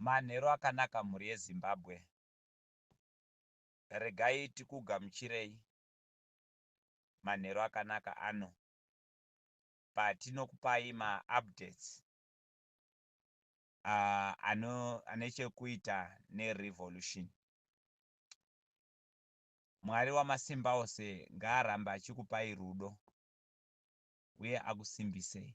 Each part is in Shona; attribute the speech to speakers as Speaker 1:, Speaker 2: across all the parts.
Speaker 1: Manheru akanaka mhuri yeZimbabwe. Regai tikugamuchirei manheru akanaka ano patinokupai ma updates ane chekuita ne revolution. Mwari wamasimbaose ngaarambe achikupai rudo uye akusimbisei.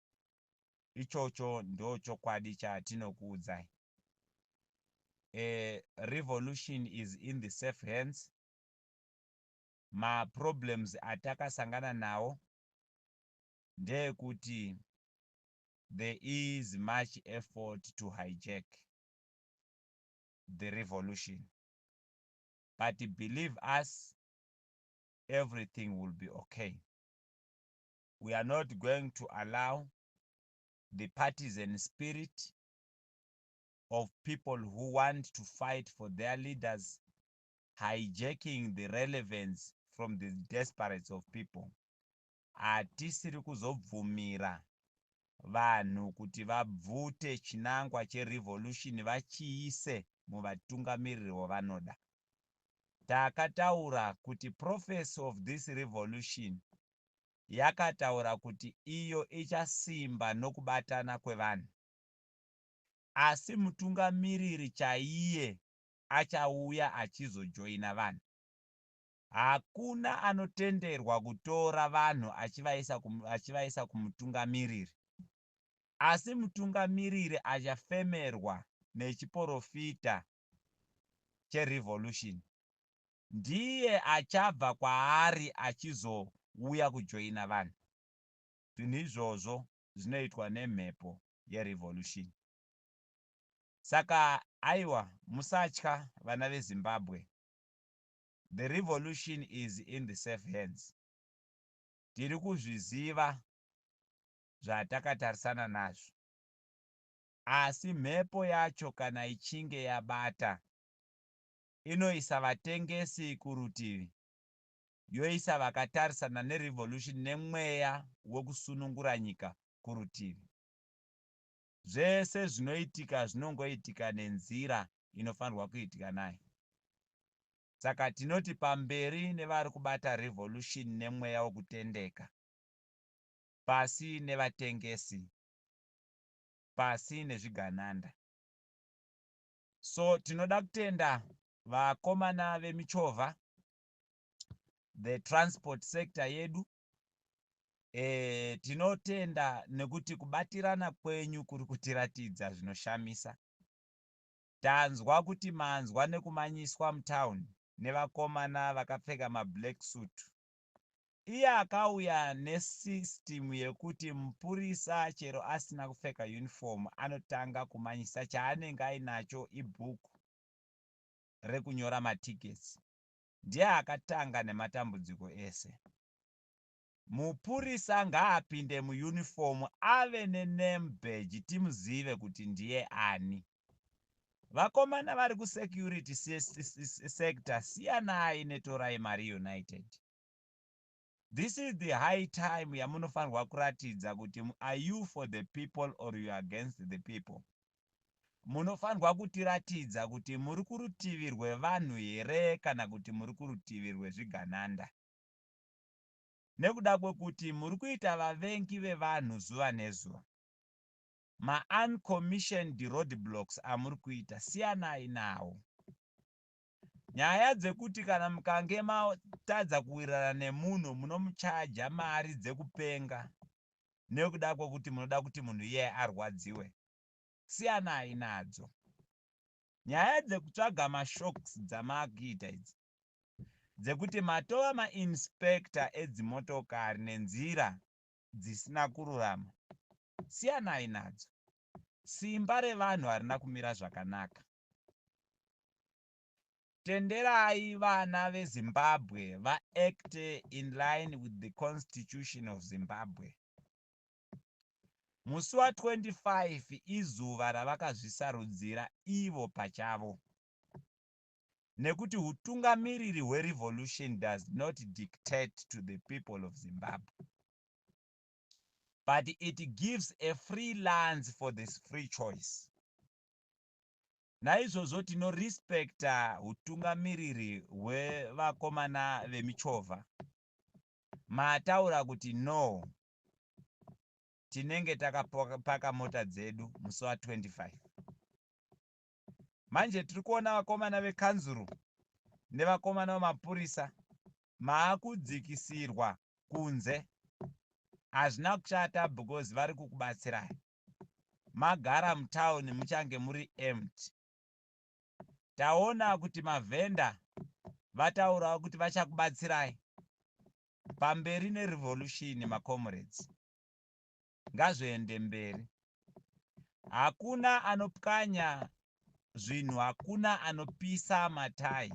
Speaker 1: Ichocho ndochokwadi chatinokuudzai. A revolution is in the safe hands. Ma problems atakasangana nawo ndeekuti there is much effort to hijack the revolution. But believe us, everything will be okay. we are not going to allow the partisan spirit of people who want to fight for their leaders hijacking the relevance from the desperates of people hatisiri kuzobvumira vanhu kuti vabvute chinangwa cherevolution vachiise muvatungamiriri wavanoda takataura kuti prophecy of this revolution yakataura kuti iyo ichasimba nokubatana kwevanhu. Asi mutungamiriri chaiye achauya achizojoina vanhu. Hakuna anotenderwa kutora vanhu achivaisa achivaisa kumutungamiriri. Asi mutungamiriri achafemerwa nechiporofita cheRevolution. ndiye achabva kwaari achizouya kujoina vanhu. Zvinhu izvozvo zvinoitwa nemhepo yerevolution. Saka aiwa musatya vana veZimbabwe, the revolution is in the safe hands. Tiri kuzviziva zvatakatarisana nazvo. Asi mhepo yacho kana ichinge yabata inoisa vatengesi kurutivi yoisa vakatarisana nerevolution nemweya wekusunungura nyika kurutivi. Zvese zvinoitika zvinongoitika nenzira inofanirwa kuitika nayo. Saka tinoti pamberi nevari kubata revolution nemweya wekutendeka, pasi nevatengesi, pasi nezvigananda. so tinoda kutenda vakomana vemichovha the transport sector yedu e, tinotenda nekuti kubatirana kwenyu kuri kutiratidza zvinoshamisa tanzwa kuti manzwa nekumanyiswa mutown nevakomana vakapfeka mablack suit Iye akauya ne system yekuti mupurisa chero asina kupfeka uniform anotanga kumanyisa chaanenge ainacho ibook rekunyora ma tickets. Ndiye akatanga nematambudziko ese. Mupurisa ngaapinde mu uniform ave ne name badge timuzive kuti ndiye ani. vakomana vari kusecurity sector siyanai netorai mari united this is the high time yamunofanirwa kuratidza kuti are you for the people or you against the people munofanirwa kutiratidza kuti muri kurutivi rwevanhu here kana kuti muri kurutivi rwezvigananda nekuda kwekuti muri kuita vavengi vevanhu zuva nezuva Ma uncommissioned roadblocks amuri kuita siyanai nawo. Nyaya dzekuti kana mukange matadza kuwirirana nemunhu munomuchaja mari dzekupenga nekuda kwekuti munoda kuti munhu iyeye arwadziwe, siyanai nadzo. Nyaya dzekutsvaga ma shocks dzamakuita idzi dzekuti matova ma inspector edzimotokari nenzira dzisina kururama, siyanai nadzo. Simba revanhu harina kumira zvakanaka. Tenderai vana veZimbabwe va acte in line with the constitution of Zimbabwe. Musi wa 25 izuva ravakazvisarudzira ivo pachavo. nekuti hutungamiriri hwe revolution does not dictate to the people of Zimbabwe but it gives a free lands for this free choice naizvozvo tinorespekta hutungamiriri hwevakomana vemichovha mataura kuti no tinenge takapaka mota dzedu musi wa 25 Manje tiri kuona vakomana vekanzuru nevakomana vemapurisa maakudzikisirwa kunze. Hazvina kushata because vari kukubatsirai. Magara mutown muchange muri empty. Taona kuti mavhenda vataurawo kuti vachakubatsirai. Pamberi nerevolution maComrades. ngazviende mberi hakuna anopwanya zvinhu hakuna anopisa matai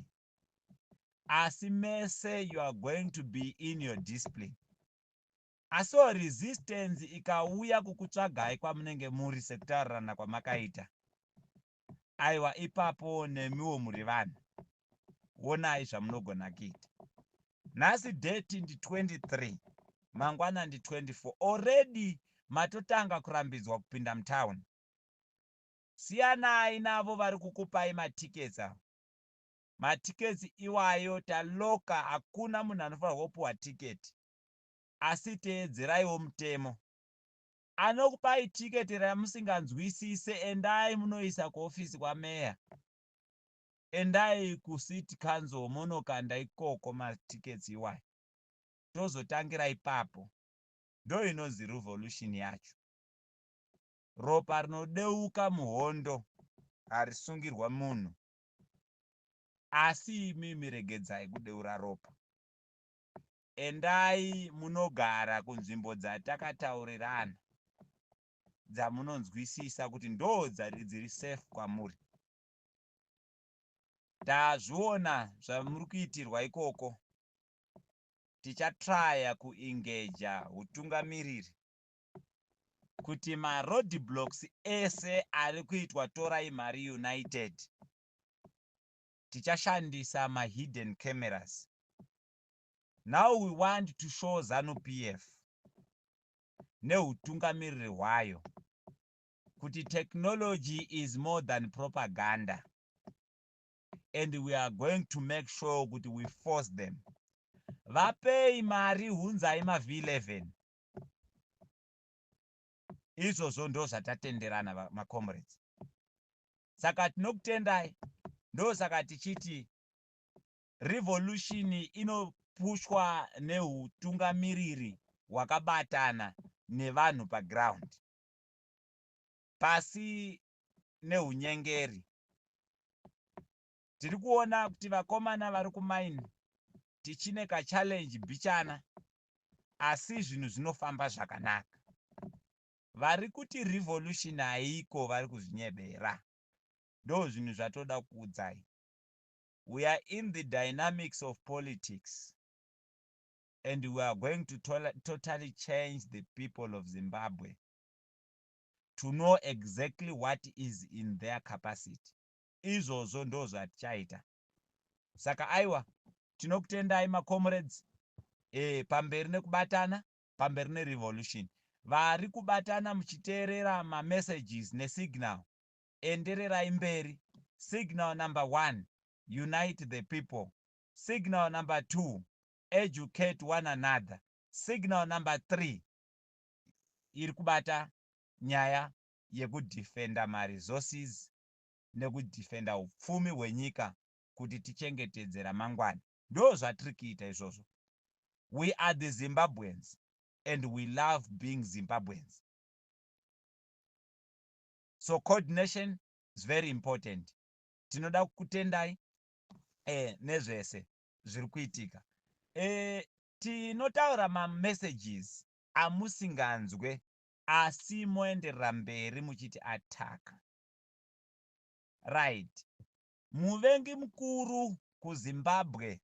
Speaker 1: asi mese you are going to be in your discipline asiwo resistance ikauya kukutsvagai kwamunenge muri sekutaurirana kwamakaita aiwa ipapo nemiwo muri vanhu wonai zvamunogona kuita nhasi date ndi 23 mangwana ndi 24 already matotanga kurambidzwa kupinda mutown siyanai navo vari kukupai matiketsa matiketsi iwayo taloka hakuna munhu anofanirwa kupiwa tiketi asi teedzeraiwo mutemo anokupai ticket ramusinganzwisise endai munoisa kuoffice kwameya endai kucity council monokanda ikoko matickets iwayo tozotangira ipapo ndoinonzi revolution yacho ropa rinodeuka muhondo harisungirwa munhu asi imimi regedzai kudeura ropa Endai munogara kunzvimbo dzatakataurirana dzamunonzwisisa kuti ndoo dziri safe kwamuri. Tazviona zvamuri kuitirwa ikoko, tichatraya kuengeja hutungamiriri kuti maroad blocks ese ari kuitwa Torai Mari United tichashandisa mahidden cameras now we want to show zanu pf neutungamiriri hwayo kuti technology is more than propaganda and we are going to make sure kuti we force them vapei mari hunzai mav 11 izvozvo ndo zvatatenderana macomrades saka tinokutendai ndosaka tichiti Revolution inopushwa nehutungamiriri hwakabatana nevanhu paground pasi nehunyengeri. Tiri kuona kuti vakomana vari kumaini tichine kachallenge bichana asi zvinhu zvinofamba zvakanaka. Vari kuti revolution haiko vari kuzvinyebera. Ndozvinhu zvatoda kukuudzai. we are in the dynamics of politics and we are going to totally change the people of Zimbabwe to know exactly what is in their capacity izvozvo ndo zvatichaita saka aiwa tinokutendai macomrades e, pamberi nekubatana pamberi nerevolution vari kubatana muchiteerera mamessages nesignal endererai mberi signal number one unite the people signal number two educate one another signal number three iri kubata nyaya yekudefenda maresources nekudefenda upfumi hwenyika kuti tichengetedze ramangwana ndo zvatiri kuita izvozvo we are the zimbabweans and we love being zimbabweans so coordination is very important tinoda kukutendai eh, nezvese zviri kuitika eh, tinotaura mamessages amusinganzwe asi moenderera mberi muchiti attack right muvengi mukuru kuzimbabwe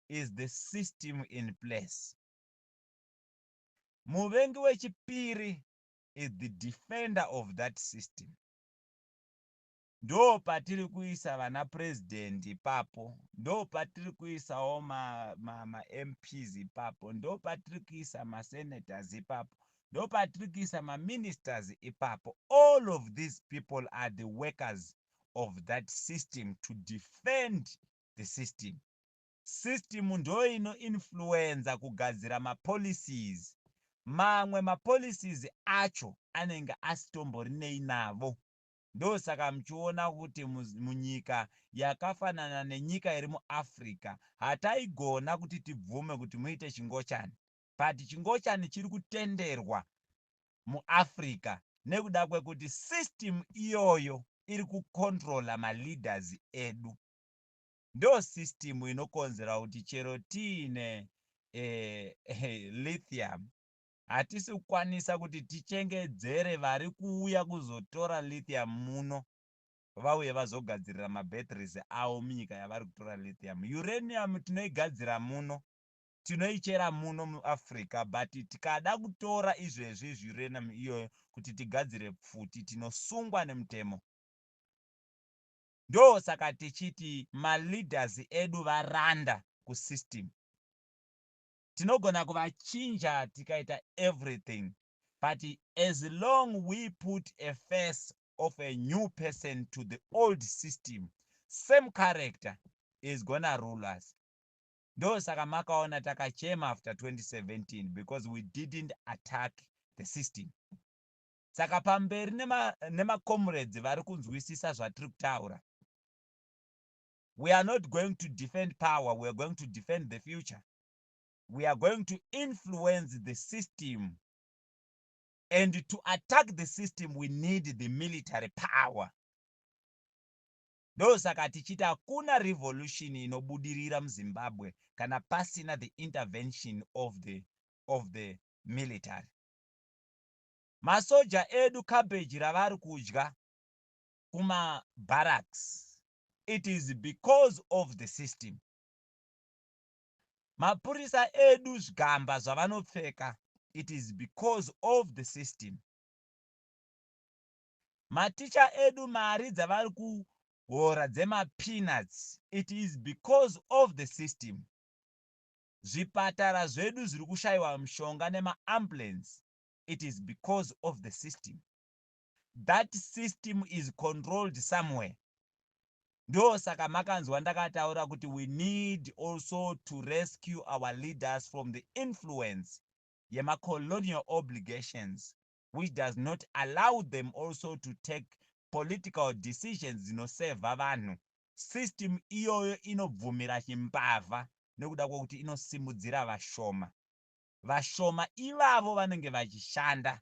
Speaker 1: is the system in place muvengi wechipiri is the defender of that system ndopatiri kuisa vana president ipapo ndopatiri kuisawo mamps ma, ma ipapo ndopatiri kuisa masenators ipapo ndopatiri kuisa maministers ipapo all of these people are the workers of that system to defend the system System ndoino influencer kugadzira ma policies. Mamwe ma policies acho anenge asitomborineyi navo. Ndosaka muchiona kuti munyika yakafanana nenyika iri mu Africa hataigona kuti tibvume kuti muite chingochani. But chingochani chiri kutenderwa mu Africa nekuda kwekuti system iyoyo iri ku controller ma leaders edu. ndo system inokonzera kuti chero tiine eh, lithium hatisi kukwanisa kuti tichengedzere vari kuuya kuzotora lithium muno vauye vazogadzirira mabatteries avo munyika yavari kutora lithium uranium tinoigadzira muno tinoichera muno muafrica but tikada kutora izvezvi zviuranium iyoyo kuti tigadzire pfuti tinosungwa nemutemo Ndosaka tichiti ma leaders edu varanda ku system. Tinogona kuvachinja tikaita everything but as long we put a face of a new person to the old system, same character is gonna rule us. Ndosaka makaona takachema after 2017 because we didn't attack the system. Saka pamberi nema nema comrades vari kunzwisisa zvatiri kutaura. We are not going to defend power, we are going to defend the future. We are going to influence the system and to attack the system we need the military power ndosaka tichiti hakuna revolution inobudirira muzimbabwe kana pasina the intervention of the, of the military Masoja edu cabbage ravari kudya kuma barracks it is because of the system. Mapurisa edu zvigamba zvavanopfeka it is because of the system. Maticha edu mari dzavari kuhora dzema peanuts it is because of the system. Zvipatara zvedu zviri kushaiwa mushonga nema ambulance it is because of the system that system is controlled somewhere ndosaka makanzwa ndakataura kuti we need also to rescue our leaders from the influence yemacolonial obligations which does not allow them also to take political decisions dzinosevha vanhu system iyoyo inobvumira chimbavha nekuda kwekuti inosimudzira vashoma vashoma ivavo vanenge vachishanda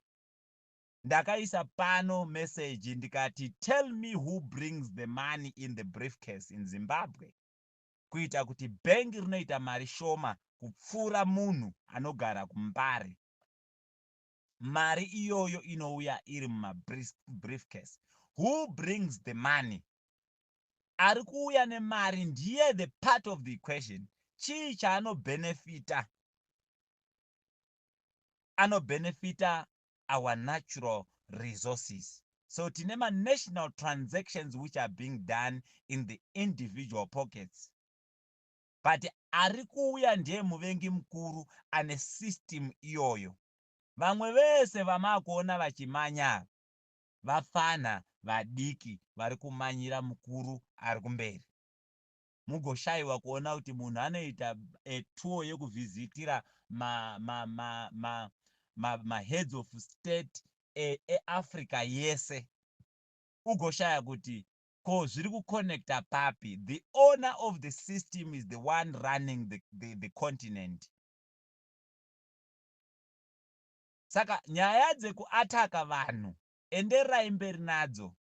Speaker 1: ndakaisa pano message ndikati tell me who brings the money in the briefcase in zimbabwe kuita kuti bhengi rinoita mari shoma kupfuura munhu anogara kumbare mari iyoyo inouya iri mumabriefcase who brings the money ari kuuya nemari ndiye the part of the equation chii chaanobhenefita anobhenefita our natural resources so tine manational transactions which are being done in the individual pockets but ari kuuya ndiye muvengi mukuru ane system iyoyo vamwe vese vamaakuona vachimanya vapfanha vadiki vari kumanyira mukuru ari kumberi. Mugoshaiwa kuona kuti munhu anoita a tour yekuvhizitira ma ma ma ma ma ma heads of state e e Africa yese ugoshaya kuti ko zviri kuconnecta papi. The owner of the system is the one running the the the continent. saka nyaya dzeku attacker vanhu enderai mberi nadzo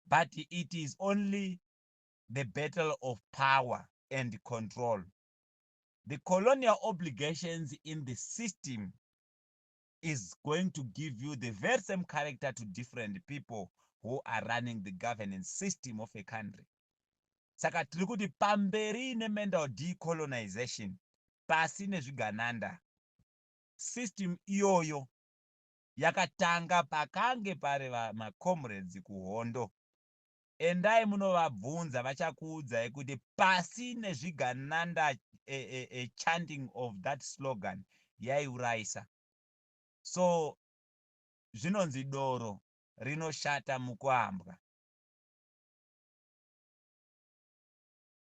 Speaker 1: but it is only the battle of power and control the colonial obligations in the system is going to give you the very same character to different people who are running the governance system of a country saka tiri kuti pamberi nemendal decolonization pasi nezvigananda System iyoyo yakatanga pakange pari macomrades kuhondo. Endai munovabvunza vachakuudzai kuti pasi nezvigananda a, a, a chanting of that slogan yaiuraisa. So zvinonzi doro rinoshata mukuambwa.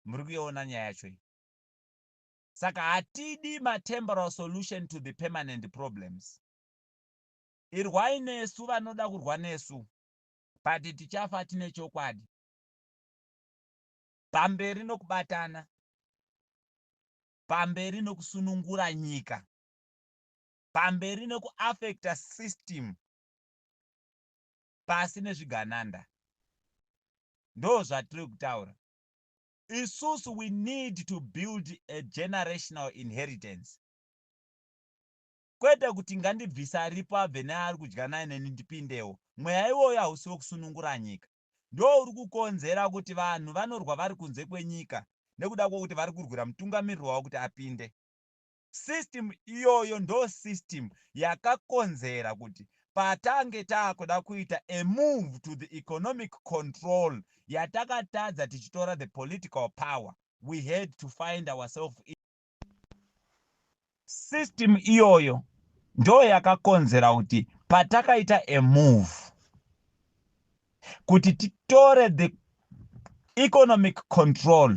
Speaker 1: Muri kuiona nyaya yacho iyi? saka hatidi matemporal solution to the permanent problems irwai nesu vanoda kurwa nesu but tichafa tine chokwadi pamberi nokubatana pamberi nokusunungura nyika pamberi nokuafecta system pasi nezvigananda ndo zvatiri kutaura Isusu we need to build a generational inheritance kwete kuti ngandibvise aripo abve neaari kudya naye neni ndipindewo. Mweya iwoyo hausi wekusunungura nyika. Ndouri kukonzera kuti vanhu vanorwa vari kunze kwenyika nekuda kwokuti vari kurwira mutungamiriri wavo kuti apinde. System iyoyo ndo system yakakonzera kuti patange takuda kuita a move to the economic control yatakatadza tichitora the political power we had to find ourself in system iyoyo ndo yakakonzera kuti patakaita a move kuti titore the economic control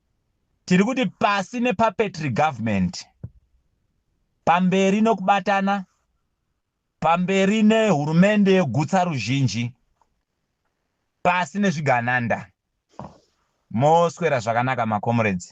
Speaker 1: Tiri kuti pasi nepapetry government, pamberi nokubatana, pamberi nehurumende yegutsa ruzhinji, pasi nezvigananda. Moswera zvakanaka makomuredzi.